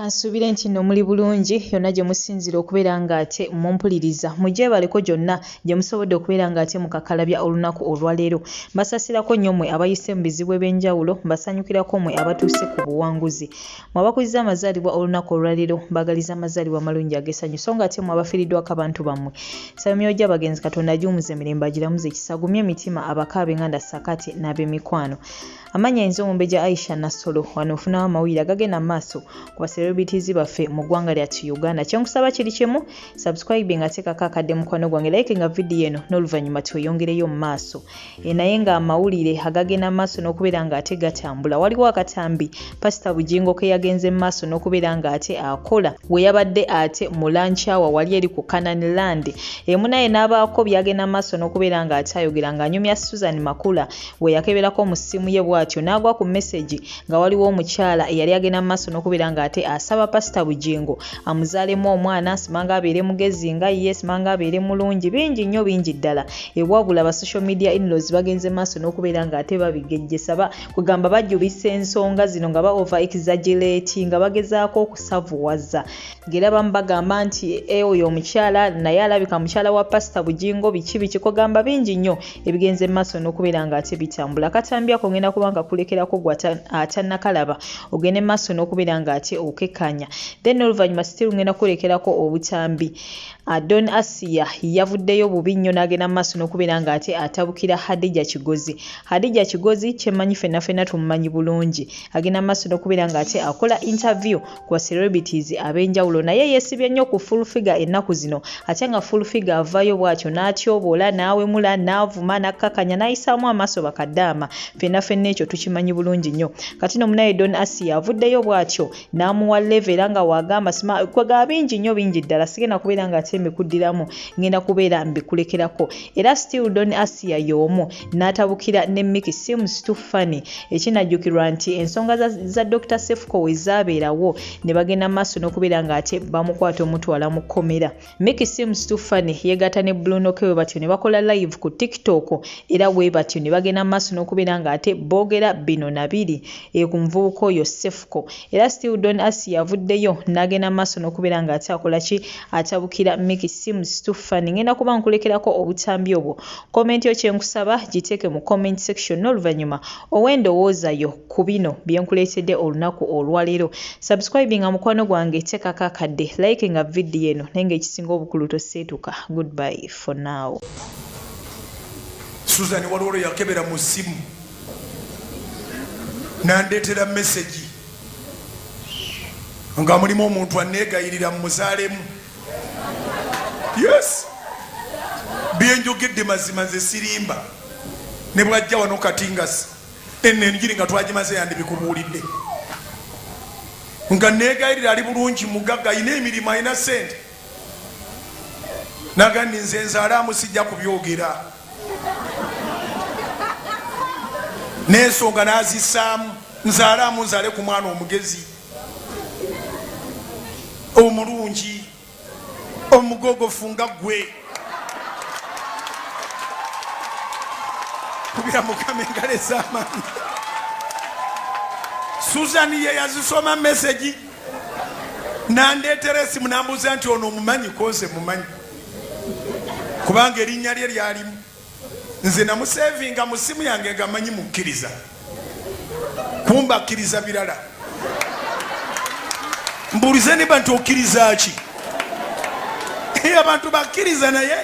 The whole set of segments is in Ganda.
Kansuubire nti nno muli bulungi yonna gye musinzira okubeera ng'ate mumpuliriza. Mugyebaleko gyonna gye musobodde okubeera ng'ate mukakalabya olunaku olwaleero. Mbasasirako nnyo mmwe abayise mu bizibu eby'enjawulo, mbasanyukirako mmwe abatuuse ku buwanguzi. Mwe abakuzizza amazaalibwa olunaku olwaliro mbagaliza amazaalibwa amalungi agesanyu so nga ate mwe abafiridwako abantu bammwe saba myoyo gy'abagenzi katonda agiwumuze mirembe agiramuze ekisa agumye emitima abaka abenganda sakati n'abemikwano amannya ayinza omumbejja aisha nassolo wano ofunawo amawulire agagenda mu maaso ku baserobitizi baffe mu ggwanga lyatu uganda kyenkusaba kiri kimu subscribe nga teekako akadde mukwano gwange like nga vidiyo eno n'oluvannyuma tweyongereyo mu maaso E, naye nga amawulire agagenda mu maaso n'okubeera nga ate gatambula waliwo akatambi pasita bugingo ke yagenze mu maaso n'okubeera nga ate akola we yabadde ate mu lancawa wali eri ku canaan land emu naye n'abaako byagenda mu maaso n'okubeera nga ate ayogera ng'anyumya susan makula we yakeberako mu ssimu ye bw'atyo n'agwa ku mesegi nga waliwo omukyala eyali agenda mu maaso n'okubeera ng'ate asaba pasita bugingo amuzaalemu omwana simanga abeere mugezi nga ye simanga abeere mulungi bingi nnyo bingi ddala ewabula ba social media inlos bagenze maaso n'okubeera ng'ate babigejjesa ba kugamba bajubisa ensonga zino nga baova exagilati nga bagezaako okusavuwaza ngera bamu bagamba nti e oyo omukyala naye alabika mukyala wa pasita bugingo biki biki kogamba bingi nnyo ebigenze mu maaso n'okubeera nga ate bitambula katambi ako ngenda kuba nga kulekerako gwe atanakalaba ogende mu maaso n'okubeera nga ate okekanya then oluvannyuma sitiru ngenda kulekerako obutambi adon ah, asiya yavuddeyo bubi nnyo n'agenda mu maaso n'okubeera nga ate atabukira hadija kigozi hadija kigozi kyemanyi fenna fenna tumumanyi bulungi agenda mu maaso n'okubeera nga ate akola interview wa celebrities abenjawulo naye yesibye nnyo ku full figure ennaku zino ate nga full figure avayo bwatyo n'atyoboola n'awemula n'avuma n'akkakanya n'ayisaamu amaaso bakaddaama ffenna ffenna ekyo tukimanyi bulungi nnyo kati no munaye don asiya avuddeyo bwatyo n'amuwa leve era nga waagamba sima kwega bingi nnyo bingi ddala sigenda kubeera nga ate mbikuddiramu ngenda kubeera mbikulekerako era still don asiya y'omu n'atabukira ne Mickey seems too funny ekinajjukirwa nti ensonga za, za Dr Sefuko we zaabeerawo ne bagenda maaso n'okubeera ng'ate bamukwata omutwala mu kkomera Mickey seems too funny yeegatta ne Bruno K we batyo ne bakola live ku TikTok era we batyo ne bagenda maaso n'okubeera ng'ate boogera bino na biri e ku muvubuka oyo Sefuko era still Don Asi yavuddeyo n'agenda maaso n'okubeera ng'ate akola ki atabukira Mickey seems too funny ngenda kuba nkulekerako obutambi obwo Comment yo kyenkusaba giteeke mu comment section n'oluvannyuma owe endowooza yo ku bino bye nkuleetedde olunaku olwaleero. Subscribinga mukwano gwange, teekako akadde, likinga video eno naye nga ekisinga obukulu toseetuka. Goodbye for now. Susan waliwo lwe yakebera mu ssimu nandeetera mesegi nga mulimu omuntu anneegayirira mmuzaalemu. yes byenjogedde mazima nze sirimba ne bwajja wano kati nga eno enjiri nga twagimaze yandibikubuulidde nga negayirira ali bulungi mugagga ayina emirimu ayina sente nagandi nze nzalaamu sijja kubyogera nensonga nazisaamu nzalaamu nzale ku mwana omugezi omulungi omugogofu nga gwe kubira mukama engalo ez'amaanyi susan ye yazisoma mesegi nandeetera esimu nambuuza nti ono omumanyi konse mumanyi kubanga erinnya lye lyalimu nze namusevinga mu simu yange nga manyi mukkiriza kumba akkiriza birala mbuulize niba nti okkiriza ki abantu bakkiriza naye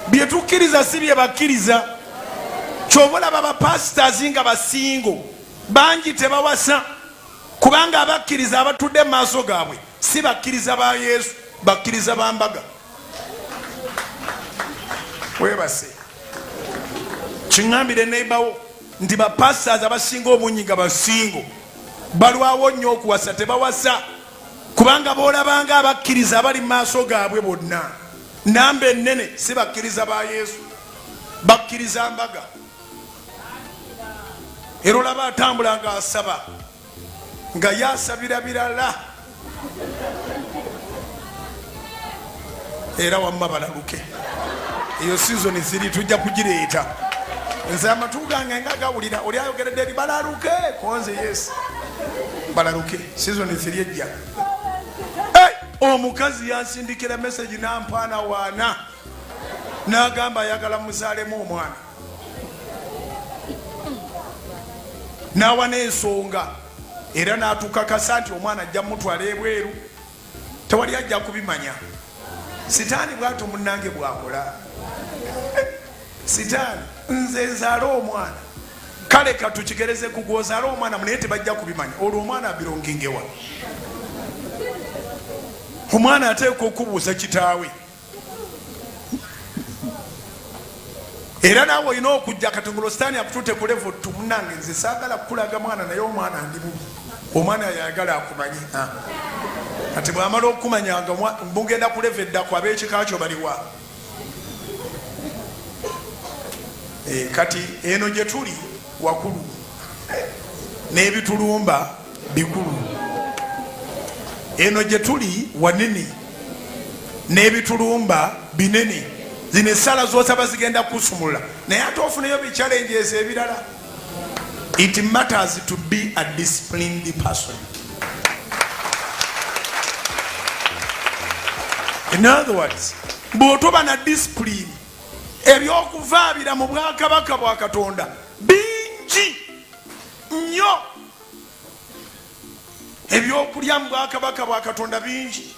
byetukkiriza si bye bakkiriza kyova olaba bapasitors nga basingo bangi tebawasa kubanga abakkiriza abatudde mu maaso gaabwe si bakkiriza ba yesu bakkiriza ba mbaga webase kiŋambire neibawo nti bapastas abasinga obungi nga basingo balwawo nnyo okuwasa tebawasa kubanga boolabanga abakkiriza abali mu maaso gaabwe bonna namba ennene si bakkiriza ba yesu bakkiriza mbaga era olaba atambula nga asaba nga yasabira birala era wamma balaluke eyo sizoni ziri tujja kugireeta nze amatu gange nga gawulira oli ayogeredde eri balaluke konze yes balaluke sizoni ziri ejja omukazi yansindikira meseji nampaana waana nagamba ayagala muzalemu omwana n'awa n'ensonga era n'atukakasa nti omwana ajja mutwala ebweru tewali ajja kubimanya sitaani bwato munange bwakola sitaani nze nzaala omwana kale katukigereze kugwozaala omwana munaye tebajja kubimanya olwo omwana abirongingewa omwana ateeka okubuuza kitaawe era naawe olina okujja kati nga lositaani akutute ku levo tu munange nze saagala kukulaga mwana naye omwana ndi bubi omwana yayagala akumanye ah. kati bwamala okukumanya nga mugenda ku levo eddako ab'ekika kyo baliwa eh, kati eno gye tuli wakulu n'ebitulumba bikulu eno gye tuli wanene n'ebitulumba binene zino essala zosaba zigenda kusumula naye ate ofuneyo bikyalenjeeza ebirala it matters to be a disciplined person in other words bwotoba na discipline ebyokuvaabira mu bwakabaka bwa katonda bingi nnyo ebyokulya mu bwakabaka bwa katonda bingi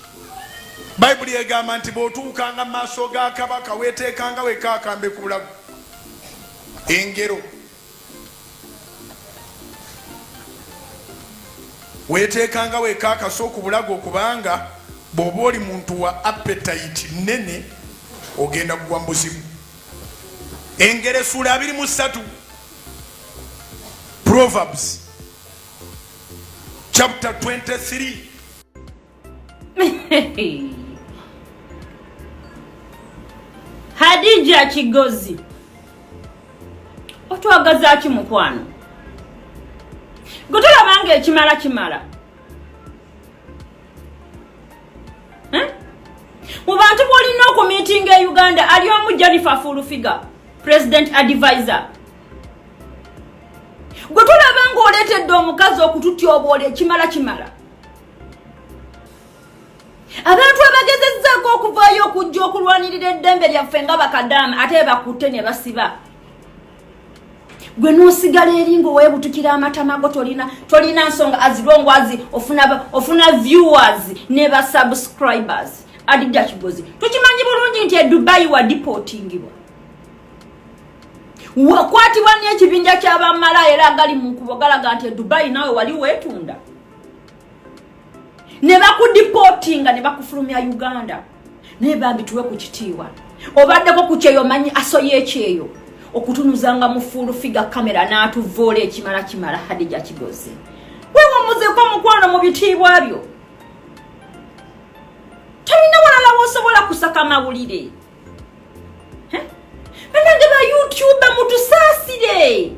bayibuli egamba nti bw'otuukanga mu maaso ga kabaka weeteekanga weka akambe ku bulago engero weeteekanga weka akaso ku bulago kubanga bw'oba oli muntu wa apetayiti nnene ogenda kugwa mu buzibu engero esuula abiri mu ssatu Proverbs chapter 23. Hadija Kigozi otwagaza ki mukwano gutulabanga ekimala kimala mu bantu bwolina okumitinga e uganda ali omu janifa fulufiga president advisor gwe tulaba ngaoleetedde omukazi okututyoboola ekimala kimala abantu abagezezzaako okuvaayo okujja okulwanirira eddembe lyaffe nga bakadaama ate bakutte ne basiba gwe nosigala eri nga owebutukira amatama go tolina tolina nsonga azirongwazi ofuna ofuna viewers ne ba subscribers adidakigozzi tukimanyi bulungi nti edubayi wa deportingibwa wakwatibwa n'ekibinja ky'abamala era agali mu nkubo galaga nti edubayi nawe wali weetunda ne bakudipootinga ne bakufulumya uganda naye bambi tuwe ku kitiibwa obaddeko ku kyeyo manyi asoya ekyeyo okutunuzanga mu fuulu figa kamera n'atuvoola ekimala kimala hadija kigozi wewumuzeko omukwano mu bitiibwa byo tolina walala wosobola kusaka mawulire banange ba youtube mutusaasire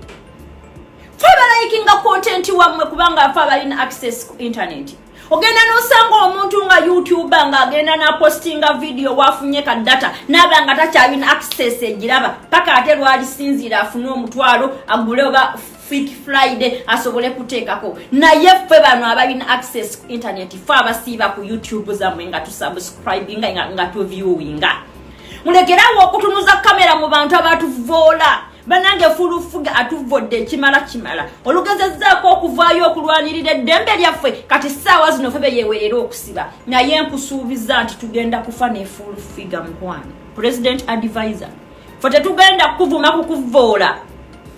fe balayikinga kontenti wammwe kubanga afe abalina access ku intaneti ogenda nosanga omuntu nga youtube nga agenda napostinga vidiyo wafunye ka data naba nga takyalina access egiraba paka ate lwalisinziira afune omutwalo agule oba Freak Friday asobole kuteekako naye ffe bano abalina access ku internet fe abasiiba ku youtube zamwe nga tusubscribinga nga, nga tuviewinga mulekerawo okutunuza kamera mu bantu abatuvoola banange fulufuga atuvvodde ekimala kimala olugezezaako okuvaayo okulwanirira eddembe lyaffe kati saawa zino fe beyewerera okusiba naye nkusuubiza nti tugenda kufa nefulufiga mukwano president advisor fe tetugenda kukuvuma kukuvoola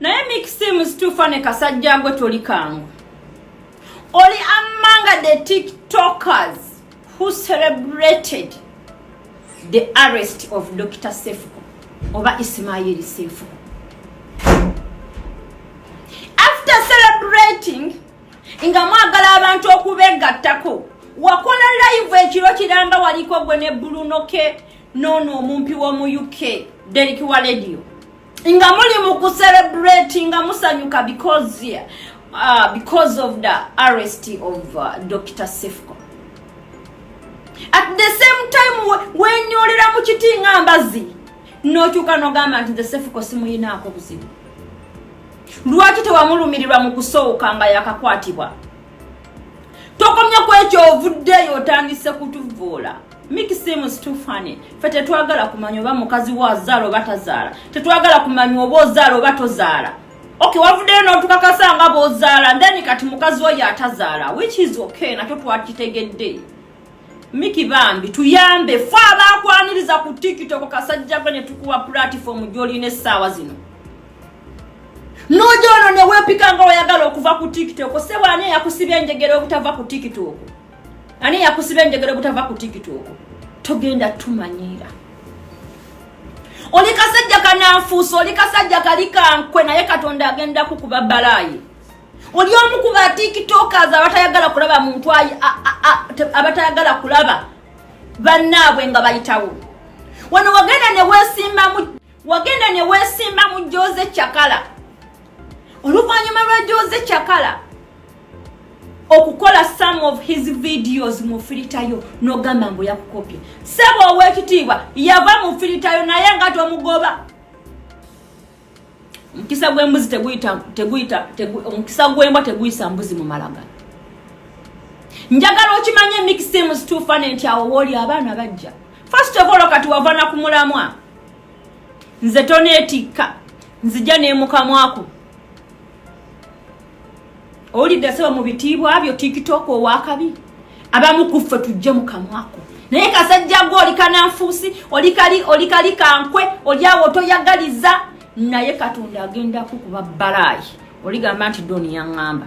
naye mixim situfa ne kasajja gwe toli kangu oli amanga the tiktokers who celebrated the arrest of dr sefuko oba isimayiri sefuko after celebrating nga mwagala abantu okubegattako wakola live ekiro kiramba waliko gwe ne bulunoke noono omumpi w'omu uk deriki wa lediyo nga muli mu kuserebrate nga musanyuka because yeah, uh, because of the arrest of uh, dr sefco at the same time wenyolera mu kiti nga mbazi nokyuka nogamba nti the sefco simuyinaako buzibu lwaki tewamulumirirwa mu kusooka nga yakakwatibwa tokomye kwekyo ovuddeyo otandise kutuvoola Mickey Sim is too funny. Fe tetwagala kumanya oba mukazi wa zaala oba tazaala. Tetwagala kumanya oba ozaala oba tozaala. Okay, wavuddeyo n'otukakasa nga bw'ozaala ndeni kati mukazi wo y'atazaala which is okay nakyo twakitegedde. Mickey bambi tuyambe fe abaakwaniriza ku TikTok kasajja gwe ne tukuwa platform gy'olina essaawa zino. N'oja ono ne weepika nga oyagala okuva ku TikTok, ssebo ani eyakusibya enjegera obutava ku TikTok? ani yakusiba enjegere butava ku tiktok togenda tumanyiira oli kasajja kananfuusa oli kasajja kali kankwe naye katonda agenda kukuba balaayi oli omu ku ba tiktokers abatayagala kulaba muntu ayi abatayagala kulaba bannaabwe nga bayitawo wano wagenda ne weesimbamu wagenda ne weesimba mu jooze cakala oluvannyuma lwa jooze cakala okukola some of his videos mu filitayo nogamba mbu yakukopye saba owekitiibwa yava mu filitayo naye nga tomugoba omukisa gwembuzi teguyita teguyita omukisa gwembwa teguyisa mbuzi mu malaga njagala okimanye mixems tufane nti awo wooli abaana bajja first of all kati wavana ku mulamwa nze toneetikka nzija nemukamwako owulidde seba mu bitiibwa byo tiktok owakabi abamu kuffe tujje mukamwako naye kasajja gwe oli kananfuusi olikali olikali kankwe olyawo otoyagaliza naye katonda agenda kukuba balaayi oligamba nti doni yaŋŋamba